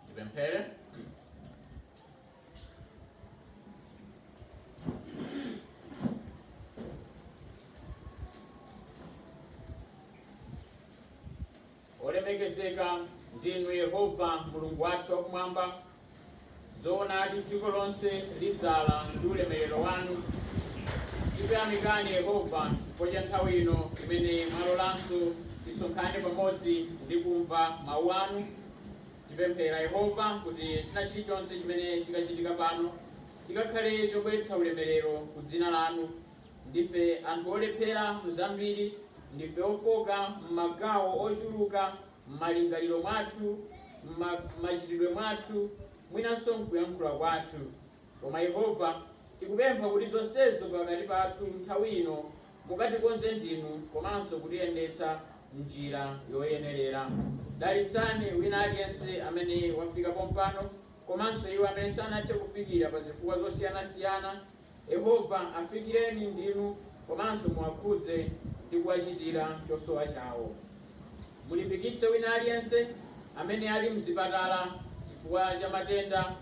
Tipemphere. olemekezeka ndinu yehova mulungu wathu wakumwamba Zoonadi, dziko lonse lidzala ndi ulemerero wanu. Tikuyamikani, Yehova, chifukwa cha nthawi ino imene mwalolanso tisonkhane pamodzi ndi kumva Mawu anu. Tipemphera, Yehova, kuti china chilichonse chimene chikachitika pano chikakhale chobweretsa ulemerero ku dzina lanu. Ndife anthu olephera mu zambiri, ndife ofoka m'magawo ochuluka. m'malingaliro mwathu, m'ma, m'machitidwe mwathu, mwinanso m'kuyankhula kwathu. Koma, Yehova, tikupempha kuti zonsezo pakati pathu nthawi ino mukatikonze ndinu komanso kutiyendetsa m'njira yoyenerera. Dalitsani wina aliyense amene wafika pompano komanso iwo amene sanathe kufikira pa zifukwa zosiyanasiyana. Yehova, afikireni ndinu komanso muwakhudze ndi kuwachitira chosowa chawo. Mulimbikitse wina aliyense amene ali m'zipatala chifukwa cha matenda.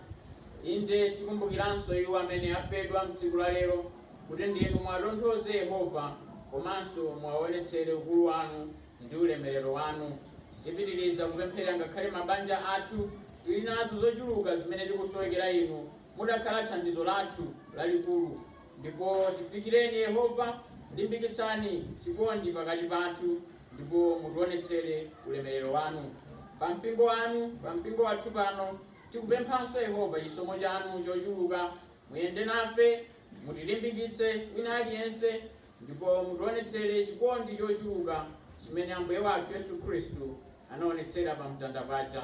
Inde, tikumbukiranso iwo amene afedwa m'tsiku lalero kuti ndinu muwatonthoze, Yehova, komanso muwaonetsere ukulu wanu ndi ulemerero wanu. Tipitiriza kupempherera ngakhale mabanja athu. Tili nazo zochuluka zimene tikusowekera inu. mudakhala thandizo lathu lalikulu. Ndipo tifikireni, Yehova, limbikitsani chikondi pakati pathu, ndipo mutionetsere ulemerero wanu. Pa mpingo wanu, pa mpingo wathu pano, tikupemphanso, Yehova, chisomo chanu chochuluka. Muyende nafe, mutilimbikitse, wina aliyense, ndipo mutionetsere chikondi chochuluka chimene Ambuye wathu Yesu Khristu anaonetsera pamtanda paja.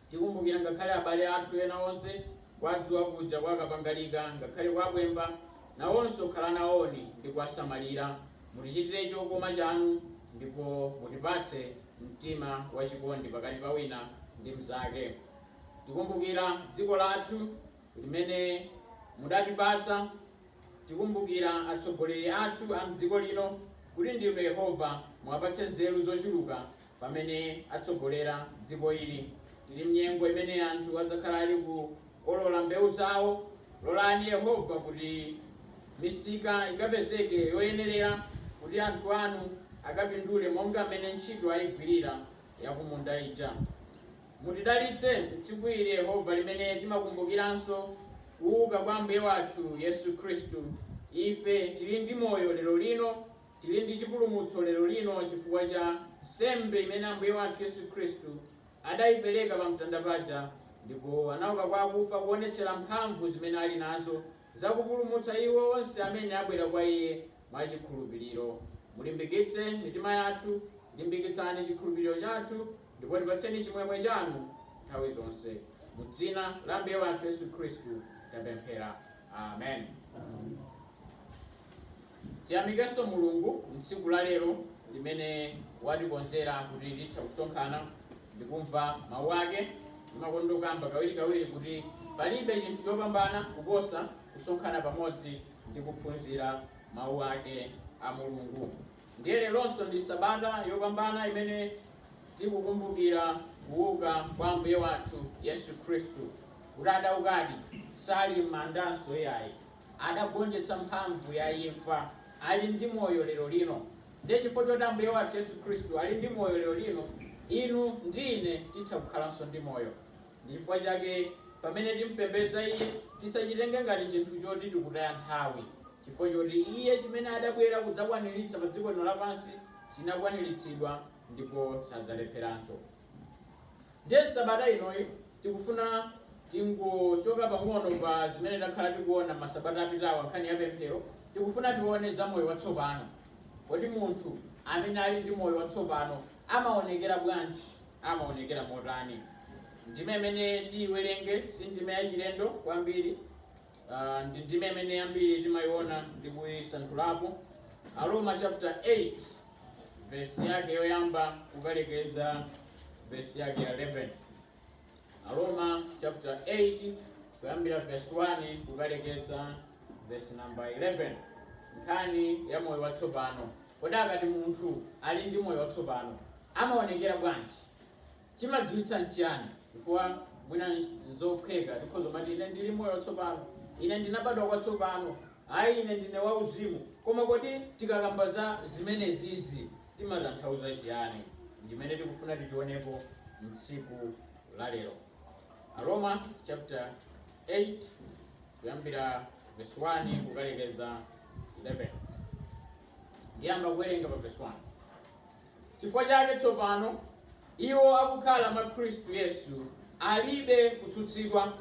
Tikumbukira ngakhale abale athu ena onse, kwa Dzuwa kuja, kwa Kapangalika, ngakhale kwa Bwemba nawonso, khala nawoni ndi kuwasamalira, mutichitire chokoma chanu, ndipo mutipatse mtima wa chikondi pakati pa wina ndi mnzake. Tikumbukira dziko lathu limene mudatipatsa, tikumbukira atsogoleri athu a m'dziko lino, kuti ndinu Yehova, muwapatse nzeru zochuluka pamene atsogolera dziko ili. Tili m'nyengo imene anthu adzakhala ali kukolola mbewu zawo. Lolani Yehova kuti misika ikapezeke yoyenerera kuti anthu anu akapindule monga mmene ntchito aigwirira yakumunda ija. Mutidalitse m'tsiku ili, Yehova, limene timakumbukiranso kuuka kwa Ambuye wathu Yesu Khristu. Ife tili ndi moyo lerolino. Tili ndi chipulumutso lero lino chifukwa cha nsembe imene Ambuye wathu Yesu Khristu adayipereka pa mtanda paja, ndipo anauka kwa akufa kuonetsera mphamvu zimene ali nazo za kupulumutsa iwo onse amene abwera kwa Iye mwa chikhulupiriro. Mulimbikitse mitima yathu, limbikitsani chikhulupiriro chathu, ndipo tipatseni chimwemwe chanu nthawi zonse. Mu dzina la Ambuye wathu Yesu Khristu tapemphera. Amen. Tiyamikenso Mulungu m'tsiku la lero limene watikonzera kuti titha kusonkhana ndikumva mau ake. Timakonda kukamba kawirikawiri kuti palibe chinthu chopambana kuposa kusonkhana pamodzi ndi kuphunzira mau ake a Mulungu. Ndiye leronso ndi sabata yopambana imene tikukumbukira kuuka kwa Ambuye wathu Yesu Khristu. Kuti adaukadi, sali m'mandanso iyayi. adagonjetsa mphamvu ya imfa, ali ndi moyo lero lino. Ndiye chifukwa choti Ambuye wathu Yesu Khristu ali ndi moyo lero lino, inu ndi ine titha kukhalanso ndi moyo. Ndi chifukwa chake pamene timpembedza Iye, tisachitenge ngati chinthu choti tikutaya nthawi, chifukwa choti Iye chimene adabwera kudzakwaniritsa padziko lino lapansi chinakwaniritsidwa ndipo sadzalepheranso. Ndiye sabata inoyi tikufuna tingochoka pang'ono pa zimene takhala tikuona masabata apitawa nkhani ya pemphero, tikufuna tione za moyo watsopano. Kodi munthu amene ali ndi moyo watsopano amaonekera bwanji? Amaonekera motani? Ndime imene tiyiwerenge si ndime yachilendo kwambiri. Uh, ndi ndime imene yambiri timayiona ndi kuyisanthulapo Aroma chapter 8 verse yake yoyamba kukalekeza verse yake ya 11 Aroma chapter 8 kuyambira verse 1 kukalekeza verse number 11 nkhani ya moyo watsopano kodi akati munthu ali ndi moyo watsopano amaonekera bwanji Chimadziwitsa nchiyani? Chifukwa mwina nzophweka, tikhoza kumati, Ine ndili moyo watsopano. Ine ndinabadwa kwatsopano. Ayi, ine ndine wauzimu. Koma kodi tikakamba za zimenezizi timatanthauza chiyani? Ndi zimene tikufuna tizionepo mtsiku la lero. Aroma chapter 8 kuyambira verse 1 kukalekeza 11. Ndiyamba kuwerenga pa verse 1. Chifukwa chake tsopano, iwo akukhala mwa Khristu Yesu alibe kutsutsidwa,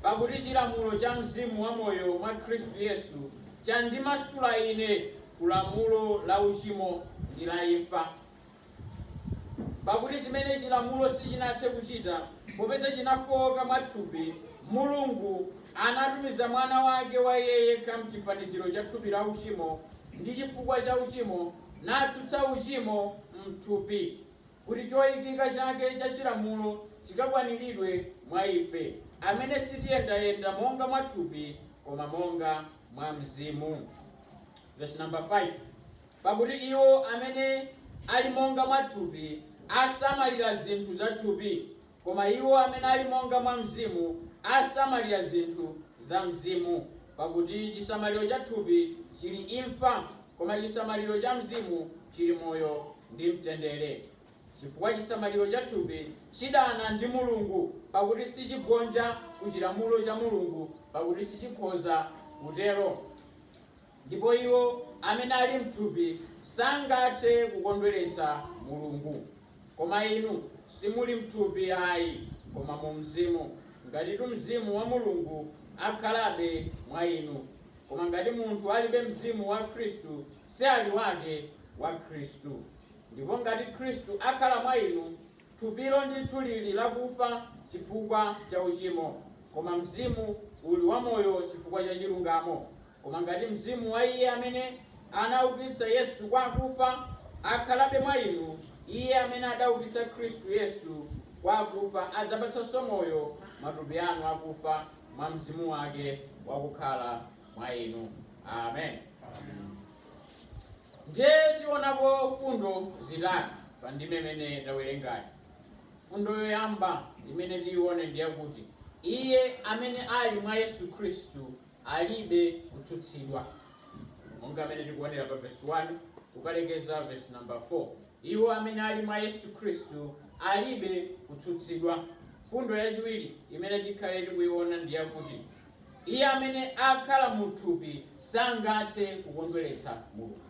pakuti chilamulo cha Mzimu wa moyo mwa Khristu Yesu chandimasula ine ku lamulo la uchimo ndi la imfa. Pakuti chimene chilamulo sichinathe kuchita, popeza chinafooka mwa thupi, Mulungu anatumiza Mwana wake wa Iye yekha m'chifaniziro cha thupi la uchimo, ndi chifukwa cha uchimo, natsutsa uchimo m'thupi, kuti choikika chake cha chilamulo chikakwaniridwe mwa ife, amene sitiyendayenda monga mwa thupi, koma monga mwa Mzimu. Vesi namba 5, Pakuti iwo amene ali monga mwa thupi asamalira zinthu za thupi. Koma iwo amene ali monga mwa Mzimu, asamalira zinthu za Mzimu. Pakuti chisamaliro cha thupi chili imfa, koma chisamaliro cha mzimu chili moyo ndi mtendere. Chifukwa chisamaliro cha thupi chidana ndi Mulungu, pakuti sichigonja ku chilamulo cha Mulungu, pakuti sichikhoza kutero. Ndipo iwo amene ali m'thupi sangathe kukondweretsa Mulungu. Koma inu simuli m'thupi ayi, koma mu Mzimu, ngatitu Mzimu wa Mulungu akhalabe mwa inu. Koma ngati munthu alibe Mzimu wa Khristu, si ali wake wa Khristu. Ndipo ngati Khristu akhala mwa inu, thupilo ndithu lili lakufa chifukwa cha uchimo, koma mzimu uli wamoyo chifukwa cha chilungamo. Koma ngati Mzimu wa Iye amene anaukitsa Yesu kwa akufa akhalabe mwa inu, Iye amene adaukitsa Khristu Yesu kwa akufa adzapatsanso moyo matupi anu akufa mwa Mzimu wake wakukhala mwa inu. Amen. Ndiye tionapo fundo zitatu pa ndime imene tawerengayi. Fundo yoyamba imene tiione ndi yakuti Iye amene ali mwa Yesu Khristu alibe kutsutsidwa. Monga mmene tikuonera pa vesi 1 kukalekeza vesi namba 4, iwo amene ali mwa Yesu Khristu alibe kutsutsidwa. Fundo yachiwiri imene tikhale tikuiona ndi yakuti iye amene akhala mu thupi sangathe kukondweretsa Mulungu.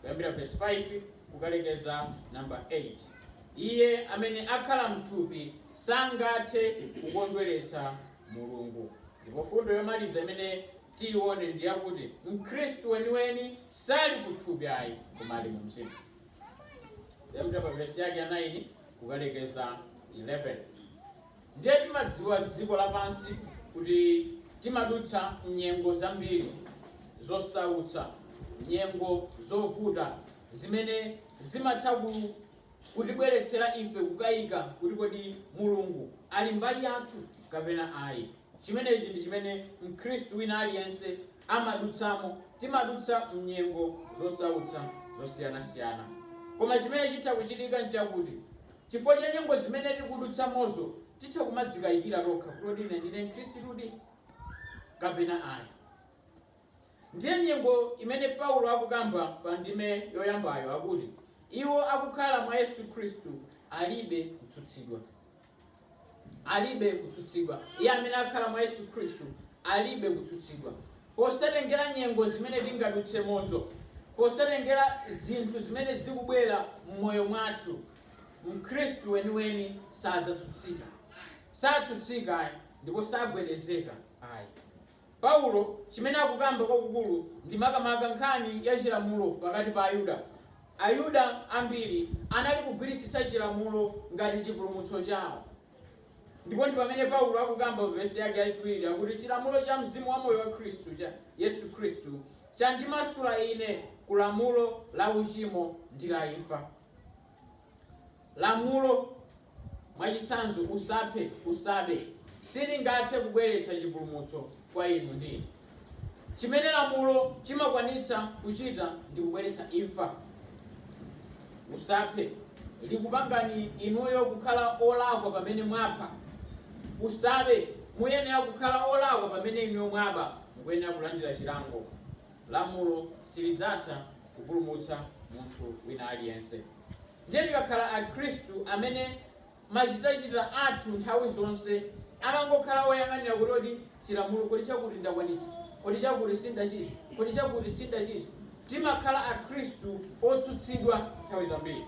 Kuyambira vesi 5 kukalekeza namba 8, iye amene akhala m'thupi sangathe kukondweretsa Mulungu. Ndipo mfundo yomaliza imene tiyione ndi yakuti Mkhristu weniweni sali ku thupi ayi, koma ali mu Mzimu. Kuyambira pa vesi yake ya 9 kukalekeza 11. Ndiye timadziwa dziko lapansi kuti timadutsa nyengo zambiri zosautsa, nyengo zovuta zimene zimatha ku kutibweretsera ife kukaika kuti kodi Mulungu ali mbali yathu kapena ayi. Chimenechi ndi chimene Mkhristu wina aliyense amadutsamo. Timadutsa m'nyengo zosautsa zosiyanasiyana. Koma chimene chitha kuchitika n'chakuti chifukwa cha nyengo zimene tikudutsamozo titha kumadzikaikira tokha kuti kodi ine ndine Mkhristudi kapena ayi. Ndiye nyengo imene Paulo akukamba pa ndime yoyambayo akuti, Iwo akukhala mwa Yesu Khristu alibe kutsutsidwa. Alibe kutsutsidwa. Iye amene akhala mwa Yesu Khristu alibe kutsutsidwa. Posatengera nyengo zimene tingadutsemozo, posatengera zinthu zimene zikubwera m'moyo mwathu, Mkhristu weniweni sadzatsutsika. Satsutsika, ndipo sagwedezeka ayi. Paulo chimene akukamba kwakukulu ndi makamaka nkhani ya chilamulo pakati pa Ayuda. Ayuda ambiri anali kugwiritsitsa chilamulo ngati chipulumutso chao. Ndipo ndi pamene Paulo akukamba mu vesi yake yachiwiri akuti chilamulo cha Mzimu wa moyo wa Khristu cha, Yesu Khristu, chandimasula ine ku lamulo la uchimo ndi la imfa. Lamulo, mwachitsanzo, Usaphe, Usabe, silingathe kubweretsa chipulumutso kwa inu ndi ine. Chimene lamulo chimakwanitsa kuchita ndi kubweretsa imfa. Usaphe, likupangani inuyo kukhala olakwa pamene mwapha. Usabe, muyenera kukhala olakwa pamene inuyo mwaba, mukuyenera kulandira chilango. Lamulo silidzatha kupulumutsa munthu wina aliyense. Ndiye tikakhala Akhristu amene machitachita athu nthawi zonse amangokhala oyang'anira kuti kodi chilamulo, kodi chakuti ndakwanitsa? Kodi chakuti sindachita? Kodi chakuti sindachita? Timakhala Akhristu otsutsidwa nthawi zambiri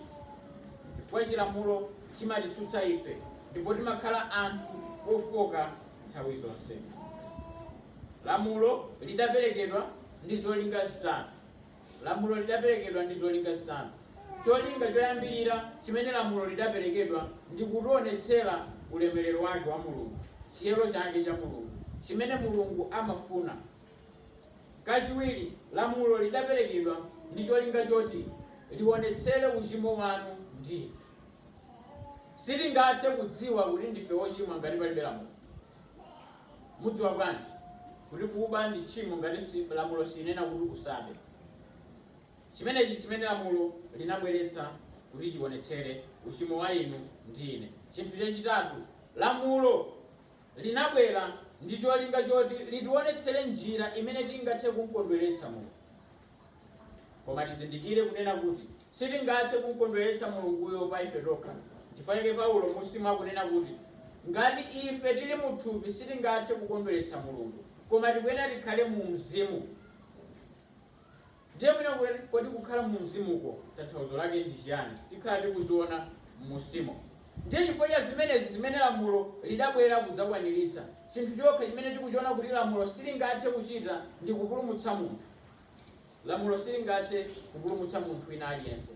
chifukwa chilamulo chimatitsutsa ife ndipo timakhala anthu ofoka nthawi zonse. Lamulo lidaperekedwa ndi zolinga zitatu. Lamulo lidaperekedwa ndi zolinga zitatu. Cholinga choyambirira chimene lamulo lidaperekedwa ndi kutionetsera ulemerero wake wa Mulungu, chiyero chake cha Mulungu, chimene Mulungu amafuna. Kachiwiri, lamulo lidaperekedwa ndi cholinga choti lionetsere uchimo wanu ndi. Sitingathe kudziwa kuti ndife ochimwa ngati palibe lamulo. Mudziwa bwanji kuti kuba ndi tchimo ngati lamulo silinanena kuti usabe? Chimenechi n'chimene lamulo linabweretsa kuti chionetsere uchimo wa inu ndi ine. Chinthu chachitatu, lamulo linabwera ndi cholinga choti litionetsere njira imene tingathe kum'kondweretsa Mulungu. Koma tizindikire kunena kuti sitingathe kumkondweretsa Mulunguyo pa ife tokha. Nchifukwa chake Paulo m'munsimu akunena kuti, Ngati ife tiri mu thupi sitingathe kukondweretsa Mulungu, koma tikuyenera tikhale mu mzimu. Ndiye mwina kuti, kodi kukhala mu mzimuko tanthauzo lake ndi chiyani? Tikhala tikuziona m'munsimo. Ndiye chifukwa cha zimenezi zimene lamulo lidabwera kudzakwaniritsa. Chinthu chokha chimene tikuchiona kuti lamulo silingathe kuchita ndi kupulumutsa munthu. Lamulo silingathe kupulumutsa munthu wina aliyense.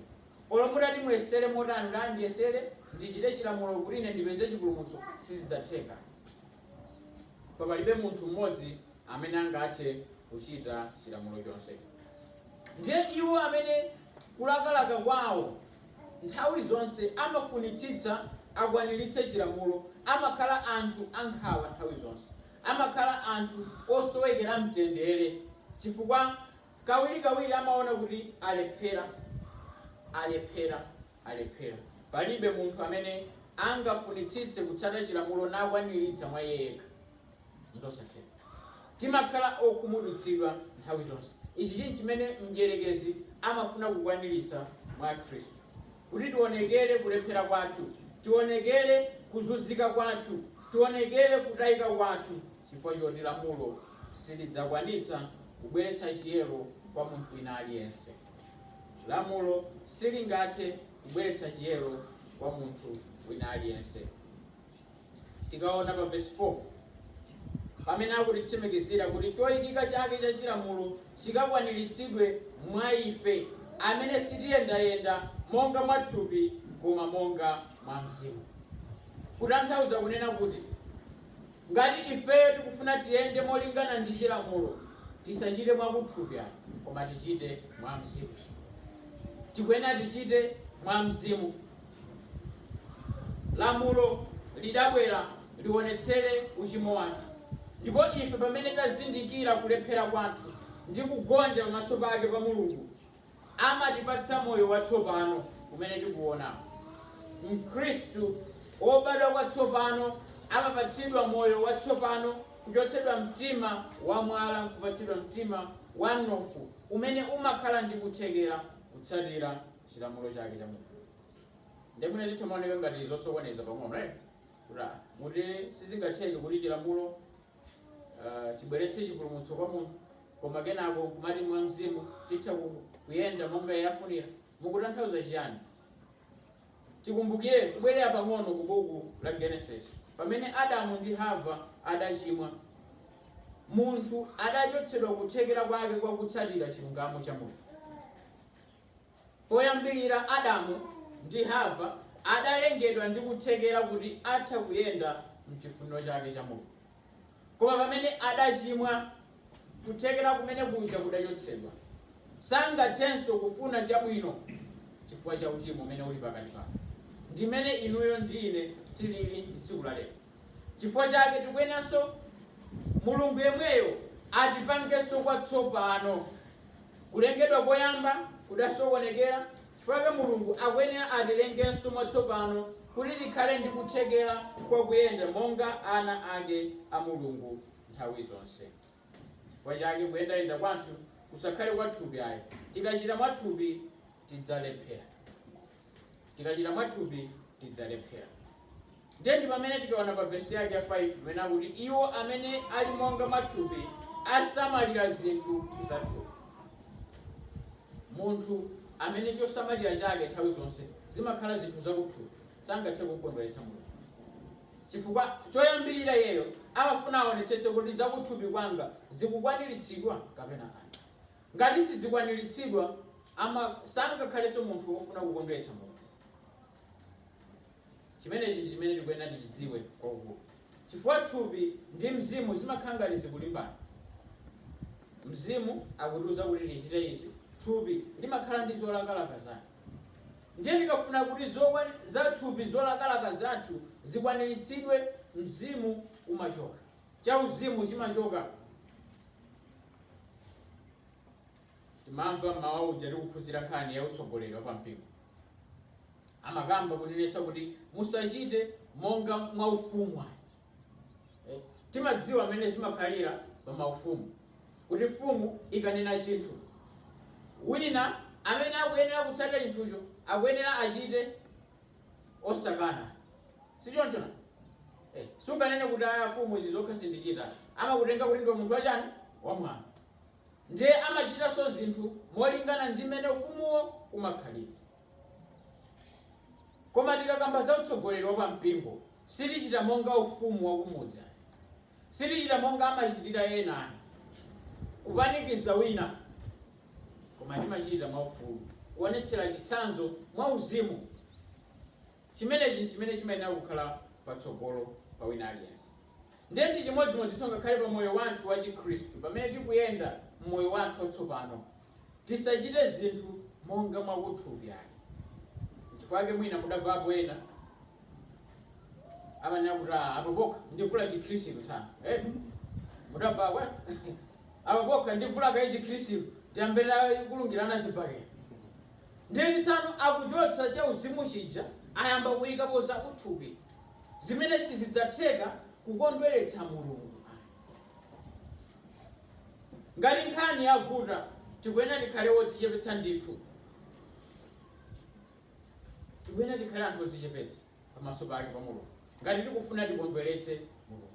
Olo mutati muyesere motani kuti, a, ndiyesere ndichite Chilamulo kuti ine ndipeze chipulumutso, sizidzatheka. Chifukwa palibe munthu mmodzi amene angathe kuchita Chilamulo chonse. Ndiye iwo amene kulakalaka kwawo nthawi zonse amafunitsitsa akwaniritse Chilamulo amakhala anthu ankhawa nthawi zonse. amakhala anthu osowekera mtendere chifukwa kawirikawiri amaona kuti alephera, alephera, alephera. Palibe munthu amene angafunitsitse kutsata chilamulo nakwaniritsa mwa iye yekha. Nzosatheka. Timakhala okhumudwitsidwa nthawi zonse. Ichi chinthu chimene mdyerekezi amafuna kukwaniritsa mwa Akhristu. kuti tionekere kulephera kwathu, tionekere kuzunzika kwathu, tionekere kutayika kwathu chifukwa choti lamulo silidzakwanitsa kubweretsa chiyero kwa munthu wina aliyense. Lamulo silingathe kubweretsa chiyero kwa munthu wina aliyense. Tikaona pa vesi 4 pamene akutitsimikizira kuti choikika chake cha chilamulo chikakwaniritsidwe mwa ife, amene sitiyendayenda monga mwa thupi, koma monga mwa Mzimu. Kutanthauza kunena kuti ngati ifeyo tikufuna tiyende molingana ndi chilamulo, tisachite mwa kuthupi ai, koma tichite mwa Mzimu. Tikuyenera tichite mwa Mzimu. lamulo lidabwera lionetsere uchimo wathu, ndipo ife pamene tazindikira kulephera kwathu ndi kugonja pamaso pake pa Mulungu, amatipatsa moyo watsopano umene tikuona. Mkhristu wobadwa kwatsopano amapatsidwa moyo watsopano kuchotsedwa mtima wa mwala nkupatsidwa mtima wa mnofu umene umakhala ndi kuthekera kutsatira Mulungu. chilamulo chake cha mulungu nde mwina zitha maoneka ngati zosokoneza pang'ono right kuti ah, kuti sizingatheke kuti chilamulo ah, chibweretse chipulumutso kwa munthu koma kenako kumati mwa mzimu titha ku- kuyenda monga iye afunira mukutanthauza chiyani tikumbukire kubwerera pang'ono ku buku la genesis pamene adamu ndi hava adachimwa munthu adachotsedwa kuthekera kwake kwa kutsatira chilungamo cha mulungu Poyambilira Adamu ndi Hava adalengedwa ndi kuthekera kuti atha kuyenda mchifuniro chake cha Mulungu. Koma pamene adachimwa, kuthekera kumene kuja kudachotsedwa. Sangathenso kufuna chabwino chifukwa cha uchimo umene uli pakati pake. Ndimene inuyo ndi ine tilili mtsiku la lero. Chifukwa chake tikuyeneranso Mulungu yemweyo atipangenso kwatsopano. Kulengedwa koyamba kudasokonekera, chifukwa chake Mulungu akuyenera atilengenso mwatsopano kuti tikhale ndi kuthekera kwa kuyenda monga ana ake a Mulungu nthawi zonse. Chifukwa chake kuyendayenda kwathu kusakhale kwa thupi ayi. Tikachita mwa thupi tidzalephera. Tikachita mwa thupi, tidzalephera. Ndiye ndi pamene tikaona pa vesi yake ya 5 imene akuti iwo amene ali monga mwa thupi asamalira zinthu za thupi. Munthu amene chosamalira chake nthawi zonse zimakhala zinthu zakuthupi sangathe kukondweretsa Mulungu, chifukwa choyambirira iyeyo amafuna aonetsetse kuti zakuthupi kwanga zikukwaniritsidwa kapena ayi. Ngati sizikwaniritsidwa, aa sangakhalenso munthu wofuna kukondweretsa Mulungu. Chimenechi ndi chimene tikuyenera tichidziwe kwakukulu. Chifukwa thupi ndi mzimu zimakhala ngati zikulimbana. Mzimu akutiuza kuti tichite izi, thupi limakhala ndi zolakalaka zake. Ndiye tikafuna kuti zo za thupi zolakalaka zathu zikwaniritsidwe, mzimu umachoka. cha uzimu chimachoka. Timamva mmawa uja tikuphunzira nkhani ya utsogoleri wa pampingo, amakamba kunenetsa kuti musachite monga mwa ufumu ayi. Eh, timadziwa mmene zimakhalira pa maufumu kuti mfumu ikanena chinthu wina amene akuyenera kutsatira chinthucho akuyenera achite osakana. Si choncho nanga? Eh, sunganene kuti aya afumu izi zokha sindichita. Amakutenga kuti ndiwe munthu wachani? Wamwano. Ndiye amachitanso zinthu molingana ndi mmene ufumuwo umakhalira. Koma tikakamba za utsogoleri wa pampingo, sitichita monga ufumu wa kumudzi ayi. Sitichita monga amachitira ena ayi, kupanikiza wina. Koma timachita mwaufulu kuonetsera chitsanzo mwauzimu. Chimenechi chimene chimayenera kukhala patsogolo pa wina aliyense. Ndiye ndi chimodzimodzinso ngakhale pa moyo wathu wachikhristu. Pamene tikuyenda m'moyo wathu watsopano, tisachite zinthu monga mwa kuthupi ayi. N'chifukwa chake mwina mudamvapo ena amanena kuti, Aa, apa pokha ndivula Chikhristu tsano. Eetu, mudamvapo eti? apa pokha ndivula kaye chikhristu tiyambire kulungirana zibakera ndiye tsano akuchotsa chauzimu chija ayamba kuyikapo za uthupi zimene sizidzatheka kukondweretsa mulungu ngati nkhani yavuta tikuyenera tikhale wodzichepetsa ndithu tikuyenera tikhale anthu odzichepetsa pamaso pake pa Mulungu ngati tikufuna tikondweretse Mulungu.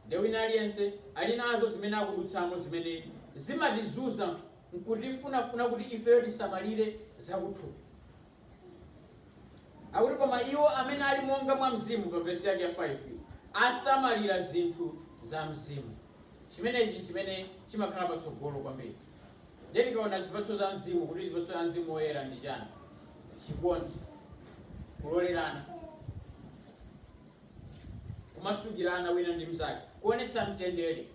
Nde wina aliyense ali nazo zimene akudutsamo zimene zimatizunza nkutifunafuna kuti ifeyo tisamalire zakuthupi. Akuti koma iwo amene ali monga mwa mzimu pa vesi yake ya 5 asamalira zinthu za mzimu. Chimenechi chimene chimakhala patsogolo kwambiri. Ndiye tikaona zipatso za Mzimu, kuti zipatso za Mzimu Woyera ndi chani? Chikondi, kulolerana, kumasukirana wina ndi mzake, kuonetsa mtendere.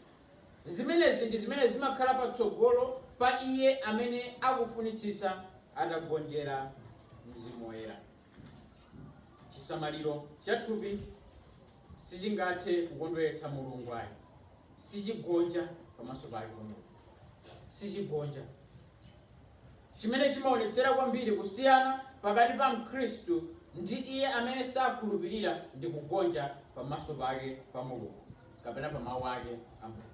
Zimenezi ndi zimene zimakhala patsogolo pa iye amene akufunitsitsa atagonjera Mzimu Woyera. Chisamaliro cha thupi sichingathe kukondweretsa Mulungu ayi. Sichigonja pamaso pake pa Mulungu. Sichigonja. Chimene chimaonetsera kwambiri kusiyana pakati pa Mkhristu ndi iye amene sakhulupirira ndi kugonja pamaso pake pa Mulungu kapena pa mawu ake a Mulungu.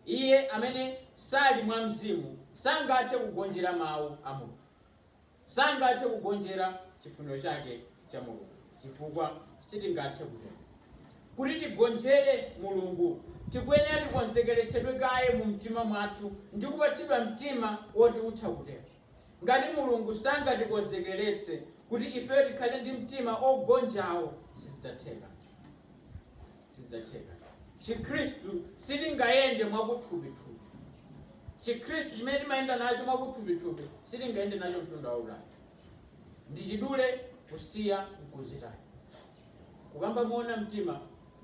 Iye amene sali mwa mzimu sangathe kugonjera mawu a Mulungu. sangathe kugonjera chifuniro chake cha Mulungu chifukwa sitingathe kutero. Kuti tigonjere Mulungu, tikuyenera tikonzekeretsedwe kaye mu mtima mwathu ndi kupatsidwa mtima woti utha kutero. Ngati Mulungu sangatikonzekeretse kuti ifeyo tikhale ndi mtima ogonjawo, sizidzatheka. Sizidzatheka. Chikhristu sitingayende mwakuthupithupi. Chikhristu chimene timayenda nacho mwakuthupithupi sitingayende nacho mtunda wautali. Ndi chidule kusiya nkuzitaya. Kukamba moona mtima,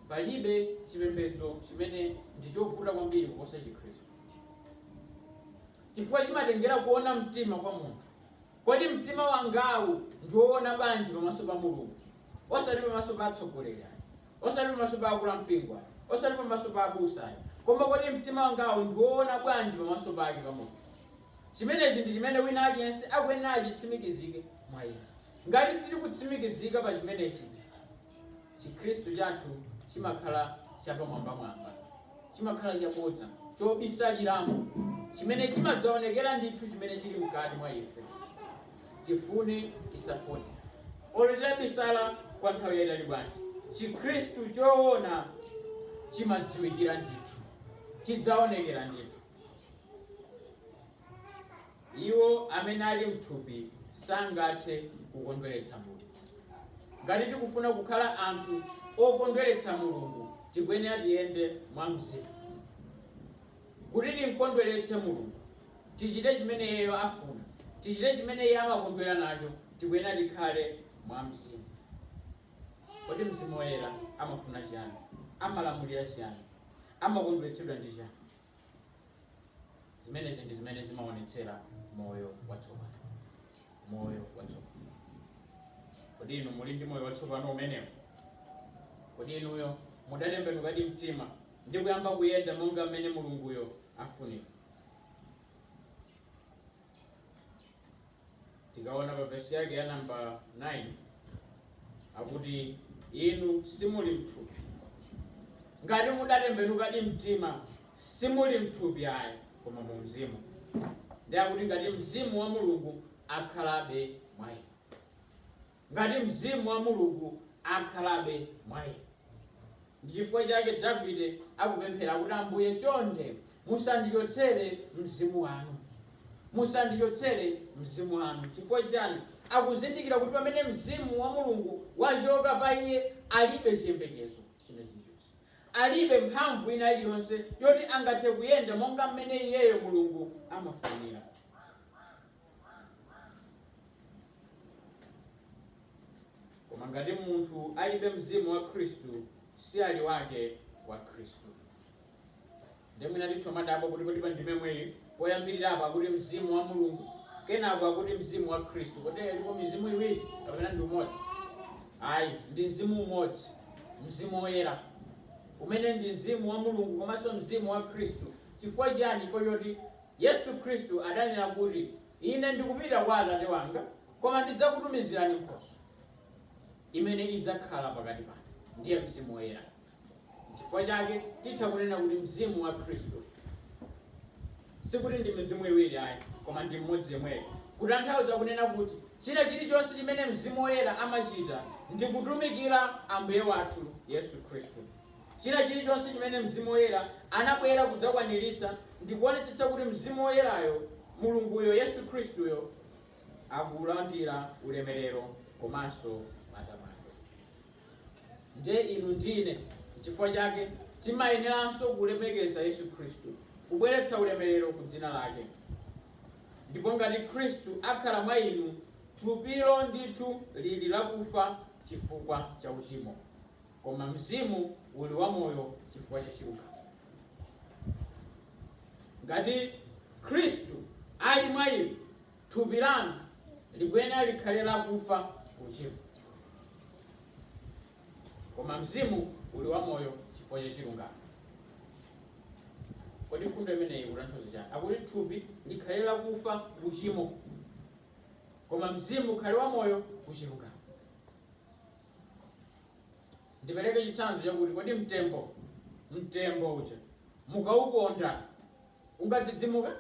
palibe chipembedzo chimene ndi chovuta kwambiri kuposa Chikhristu, chifukwa chimatengera kuona mtima kwa munthu. Kodi mtima wangawu ndi woona bwanji pamaso pa Mulungu? Osati pamaso pa atsogoleri ayi. Osati pamaso pa akulu ampingo ayi. Osati pamaso pa abusa ayi. Koma kodi mtima wangawu ndi woona bwanji pamaso pake, pa Mulungu? Chimenechi ndi chimene wina aliyense akuyenera achitsimikizike mwa iye. Ngati sitikutsimikizika pa chimenechi. Chikhristu chathu chimakhala chapamwambamwamba, chimakhala chabodza, chobisaliramo chimene chimadzaonekera ndithu chimene chili mkati mwa ife, tifune tisafune. Olo titabisala kwa nthawi yaitali bwanji, Chikhristu choona chimadziwikira ndithu, chidzaonekera ndithu. Iwo amene ali m'thupi sangathe kukondweretsa Mulungu. Ngati tikufuna kukhala anthu okondweretsa Mulungu, tikuyenera tiyende mwa Mzimu. Kuti timkondweretse Mulungu, tichite chimene Iyeyo afuna, tichite chimene Iye amakondwera nacho, tikuyenera tikhale mwa Mzimu. Kodi Mzimu Woyera amafuna chiyani? Amalamulira chiyani? Amakondweretsedwa ndi chiyani? zimenezi ndi zimene zimaonetsera moyo watsopano moyo watsopano kodi inu muli ndi moyo watsopano umenewo kodi inuyo mudatembenukadi mtima ndi kuyamba kuyenda monga mmene mulunguyo afunira tikaona pa vesi yake ya namba 9 akuti inu simuli mthupi ngati mudatembenukadi mtima simuli mthupi ayi koma mu mzimu ndi akuti ngati mzimu wa mulungu akhalabe mwa inu ngati mzimu wa Mulungu akhalabe mwa inu. Ndi chifukwa chake Davide akupemphera kuti, Ambuye, chonde musandichotsere Mzimu wanu. Musandichotsere Mzimu wanu. Chifukwa chiyani? Akuzindikira kuti pamene Mzimu wa Mulungu wachoka pa iye, alibe chiyembekezo china chilichonse. Alibe mphamvu ina iliyonse yoti angathe kuyenda monga mmene iyeyo, Mulungu, amafunira. koma ngati munthu alibe mzimu wa khristu si ali wake wa khristu ndi mwina titha kudabwa kuti kodi pandime yomweyi poyambirirapo akuti mzimu wa mulungu kenako akuti mzimu wa khristu kodi ilipo mizimu iwiri kapena ndi umodzi ayi ndi mzimu umodzi mzimu woyera umene ndi mzimu wa mulungu komanso mzimu wa khristu chifukwa chiyani chifukwa choti Yesu Kristu adanena kuti, Ine ndikupita kwa Atate wanga, koma ndidzakutumizirani Nkhoswe, imene idzakhala pakati panu, ndiye Mzimu Woyera. Nchifukwa chake titha kunena kuti Mzimu wa Kristu. Sikuti ndi mizimu iwiri ayi, koma ndi mmodzi yemweyo. Kutanthauza kunena kuti china chilichonse chimene Mzimu Woyera amachita ndi kutumikira Ambuye wathu Yesu Kristu. China chilichonse chimene Mzimu Woyera anabwera kudzakwaniritsa ndi kuonetsetsa kuti Mzimu Woyerayo, Mulunguyo, Yesu Khristuyo, akulandira ulemerero komanso matamando. Ndiye inu ndi ine, n'chifukwa chake timayeneranso kulemekeza Yesu Khristu, kubweretsa ulemerero ku dzina lake. Ndipo ngati Khristu akhala mwa inu, thupilo ndithu lili lakufa chifukwa cha uchimo. koma mzimu uli wamoyo chifukwa cha chilungamo. Ngati Khristu ali mwa inu, thupi lanu likuyenera likhale lakufa ku uchimo, koma mzimu uli wamoyo chifukwa cha chilungamo. Kodi fundo imeneyi ikutanthauza chani? Akuti thupi likhale lakufa ku uchimo, koma mzimu ukhale wamoyo ku chilungamo. ndipereke chitsanzo chakuti kodi mtembo mtembo uja mukauponda ungadzidzimuka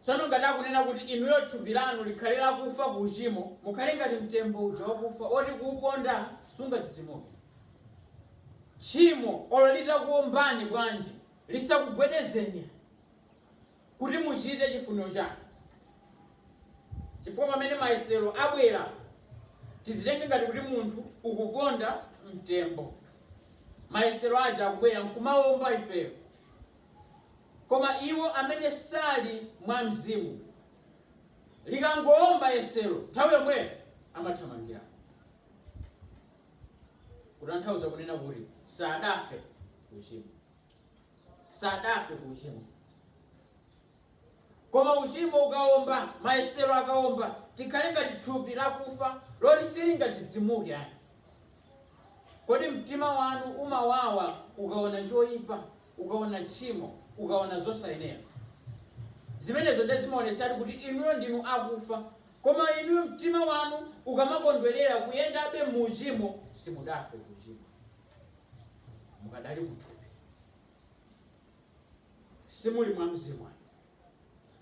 tsono ngati akunena kuti inuyo thupi lanu likhale lakufa ku uchimo mukhale ngati mtembo uja wakufa oti kuuponda sungadzidzimuke tchimo olo litakuombani bwanji lisakugwedezeni kuti muchite chifuniro chake, chifukwa pamene mayesero abwera, tizitenge ngati kuti munthu ukuponda mtembo. Mayesero aja akubwera nkumawomba ifeyo. Koma iwo amene sali mwa Mzimu, likangowomba yesero, nthawi yomweyo amathamangira. Kutanthauza kunena kuti sadafe ku uchimo. sadafe ku uchimo koma uchimo ukaomba mayesero akaomba tikhale ngati thupi lakufa loti silingadzidzimuke ayi kodi mtima wanu umawawa ukaona choyipa ukaona tchimo ukaona zosayenera zimenezo nde zimaonetsatu kuti inuyo ndinu akufa koma inuyo mtima wanu ukamakondwerera kuyendabe mu uchimo simudafe ku uchimo mukadali kuthupi simuli mwa mzimu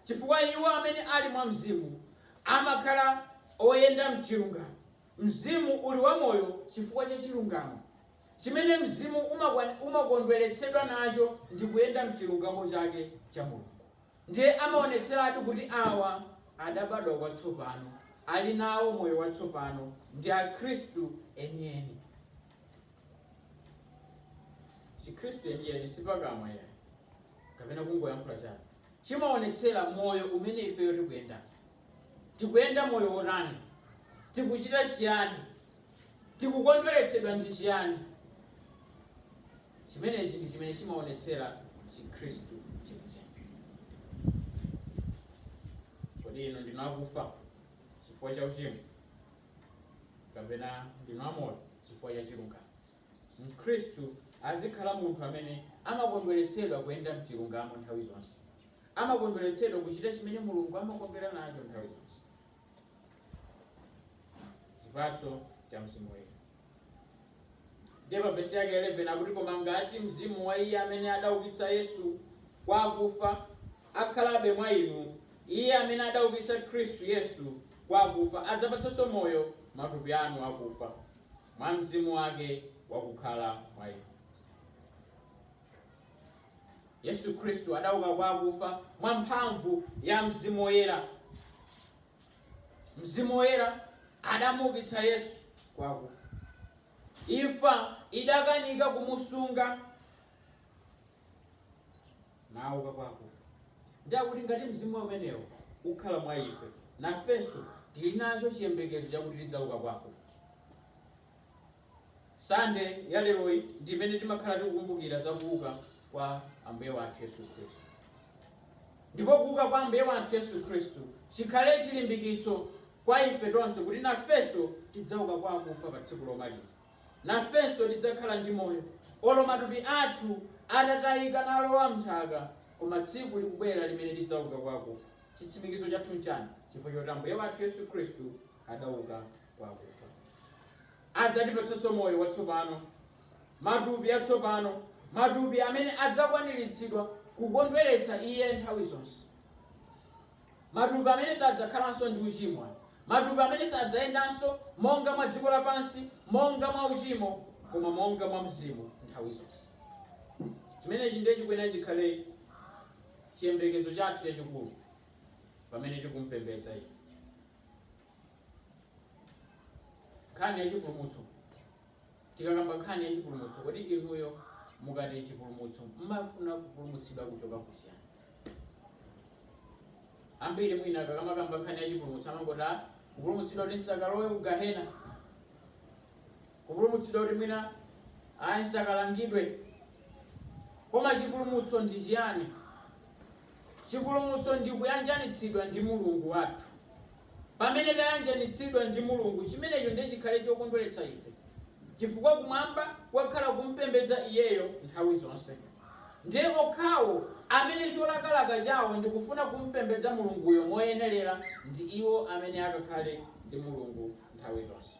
chifukwa iwo amene ali mwa mzimu amakhala oyenda mchilungamo mzimu uli wa moyo chifukwa cha chilungamo chimene mzimu umakwa- umakondweretsedwa nacho ndi kuyenda mchilungamo chake cha mulungu ndiye amaonetseratu kuti awa adabadwa kwatsopano ali nawo moyo watsopano ndi akhristu enieni chikhristu chenicheni si pakamwa yayi kapena kungoyankhula chabe chimaonetsera moyo umene ifeyo tikuyenda tikuyenda moyo wotani tikuchita chiyani tikukondweretsedwa ndi chiyani chimenechi ndi chimene chimaonetsera chikhristu chenicheni kodi inu ndinu akufa chifukwa cha uchimo kapena ndinu amoyo chifukwa cha chilungamo mkhristu azikhala munthu amene amakondweretsedwa kuyenda mchilungamo nthawi zonse amakondweretsedwa kuchita chimene mulungu amakondwera nacho nthawi zonse chipatso cha mzimu woyera Ndiye pa vesi yake 11 akuti, Koma ngati mzimu wa iye amene adaukitsa Yesu kwa akufa akhalabe mwa inu, iye amene adaukitsa Khristu Yesu kwa akufa adzapatsanso moyo matupi anu akufa, mwa Mzimu wake wakukhala mwa inu. Yesu Khristu adauka kwa akufa mwa mphamvu ya Mzimu Woyera. Mzimu Woyera adamuukitsa Yesu kwa akufa. Imfa idakanika kumusunga nauka kwa akufa. Ndiye akuti ngati mzimu umenewo ukhala mwa ife, nafenso tili nacho chiyembekezo chakuti tidzauka kwa akufa. Sande ya leroyi ndi imene timakhala tikukumbukira za kuuka kwa Ambuye wathu Yesu Khristu. Ndipo kuuka kwa Ambuye wathu Yesu Khristu chikhale chilimbikitso kwa ife tonse kuti nafenso tidzauka kwa akufa pa tsiku lomaliza. Nafenso tidzakhala ndi moyo olo matupi athu atatayika nalowa m'nthaka, koma tsiku likubwera limene tidzauka kwa akufa. Chitsimikizo chathu nchani? Chifukwa choti Ambuye wathu Yesu Khristu adauka kwa akufa. Adzatipatsanso moyo watsopano, matupi atsopano, matupi amene adzakwaniritsidwa kukondweretsa Iye nthawi zonse, matupi amene sadzakhalanso ndi uchimo, matupi amene sadzayendanso monga mwa dziko lapansi, monga mwa uchimo, koma monga mwa mzimu nthawi zonse. Chimenechi ndiye chikuyenera chikhale chiyembekezo chathu chachikulu pamene tikumpembedza Iye. nkhani ya chipulumutso tikakamba nkhani ya chipulumutso kodi inuyo mukati chipulumutso mmafuna kupulumutsidwa kuchoka kuchiyani ambiri mwina akamakamba nkhani ya chipulumutso amangoti "Ah, kupulumutsidwa kuti nsakalowe kugahena Kupulumutsidwa kuti mwina a nsakalangidwe. Koma chipulumutso ndi chiyani? Chipulumutso ndi kuyanjanitsidwa ndi Mulungu wathu. Pamene tayanjanitsidwa ndi Mulungu, chimenecho ndiye chikhale chokondweretsa ife, chifukwa kumwamba kukakhala kumpembedza Iyeyo nthawi zonse. Ndiye okhawo amene cholakalaka chawo ndi kufuna kumpembedza Mulunguyo moyenelera ndi iwo amene akakhale ndi Mulungu nthawi zonse.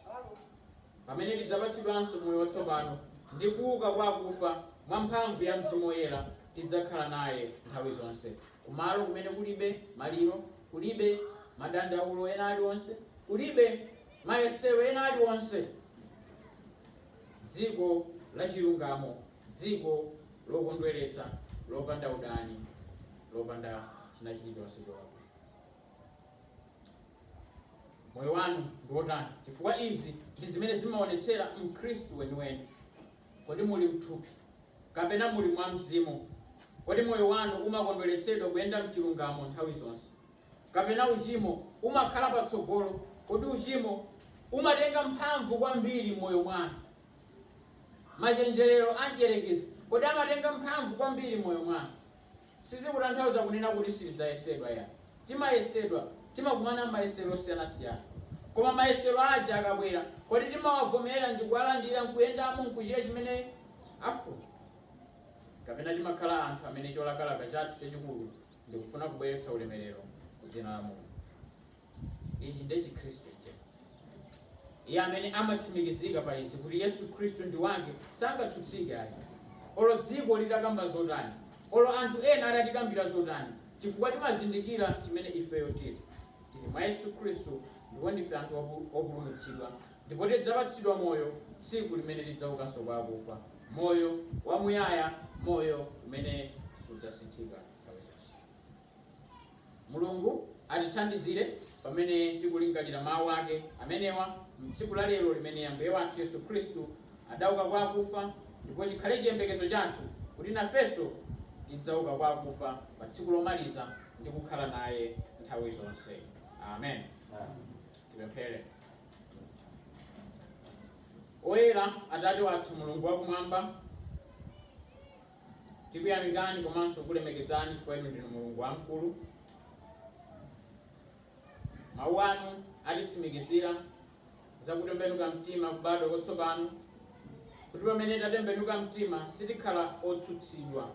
pamene tidzapatsidwanso moyo watsopano ndi kuuka kwa akufa mwa mphamvu ya mzimu woyera, tidzakhala naye nthawi zonse, kumalo kumene kulibe maliro, kulibe madandaulo ena aliwonse, kulibe mayesero ena aliwonse, dziko lachilungamo, dziko lokondweretsa, lopanda udani, lopanda china chilichonse cholakwika. Moyo wanu ndi wotani? Chifukwa izi ndi zimene zimaonetsera Mkhristu weniweni. Kodi muli mthupi kapena muli mwa Mzimu? Kodi moyo wanu umakondweretsedwa kuyenda mchilungamo nthawi zonse? Kapena uchimo umakhala patsogolo? Kodi uchimo umatenga mphamvu kwambiri mmoyo mwanu? Machenjerero a mdyerekezi, kodi amatenga mphamvu kwambiri mmoyo mwanu? Sizikutanthauza kunena kuti sitidzayesedwa ya. Timayesedwa. Timakumana nmayesero osiyanasiyana. Koma mayesero aja akabwera, kodi timawavomera ndi kuwalandira nkuyendamo nkuchita chimene afuna? Kapena timakhala anthu amene cholakalaka chathu chachikulu ndi kufuna kubweretsa ulemerero ku dzina la Mulungu? Ichi ndiye Chikhristu ichi. Iye amene amatsimikizika pa izi, kuti Yesu Khristu ndi Wake, sangatsutsike ayi. Olo dziko litakamba zotani, olo anthu ena atatikambira zotani, chifukwa timazindikira chimene ifeyo tiri. Tiri mwa Yesu Khristu ndipo ndife anthu opulumutsidwa ndipo tidzapatsidwa moyo tsiku limene tidzaukanso kwa akufa, moyo wamuyaya, moyo umene sudzasinthika nthawi zonse. Mulungu atithandizire pamene tikulingalira mawu ake amenewa m'tsiku la lero limene Ambuye wathu Yesu Khristu adauka kwa akufa, ndipo chikhale chiyembekezo chathu kuti nafenso tidzauka kwa akufa pa tsiku lomaliza ndi kukhala naye nthawi zonse. Amen. Tipemphere. Oyera Atate wathu Mulungu wakumwamba, Tikuyamikani komanso kulemekezani chifukwa inu ndinu Mulungu wamkulu. Mawu anu atitsimikizira za kutembenuka mtima, kubadwa kwatsopano, kuti pamene tatembenuka mtima sitikhala otsutsidwa.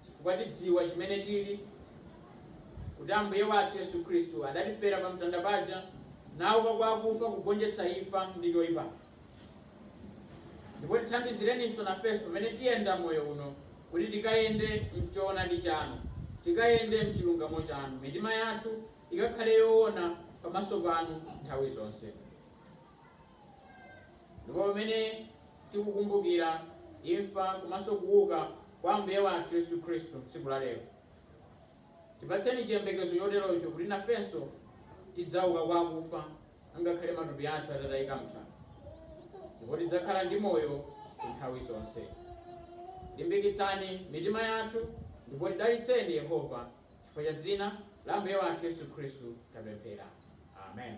chifukwa tidziwa chimene tili, kuti Ambuye wathu Yesu Khristu adatifera pamtanda paja, nauka kwa akufa kugonjetsa imfa ndi choyipa. Ndipo tithandizireninso nafenso pamene tiyenda moyo uno, kuti tikayende m'choonadi chanu, tikayende m'chilungamo chanu, mitima yathu ikakhale yoona pamaso panu nthawi zonse. Ndipo pamene tikukumbukira imfa komanso kuuka kwa Ambuye wathu Yesu Khristu tsiku la lero, tipatseni chiyembekezo choterocho kuti nafenso tidzauka kwa akufa angakhale matupi athu atatayika m'nthaka, ndipo tidzakhala ndi moyo nthawi zonse. Limbikitsani mitima yathu ndipo tidalitseni, Yehova, chifukwa cha dzina la Ambuye wathu Yesu Khristu tapemphera. Amen.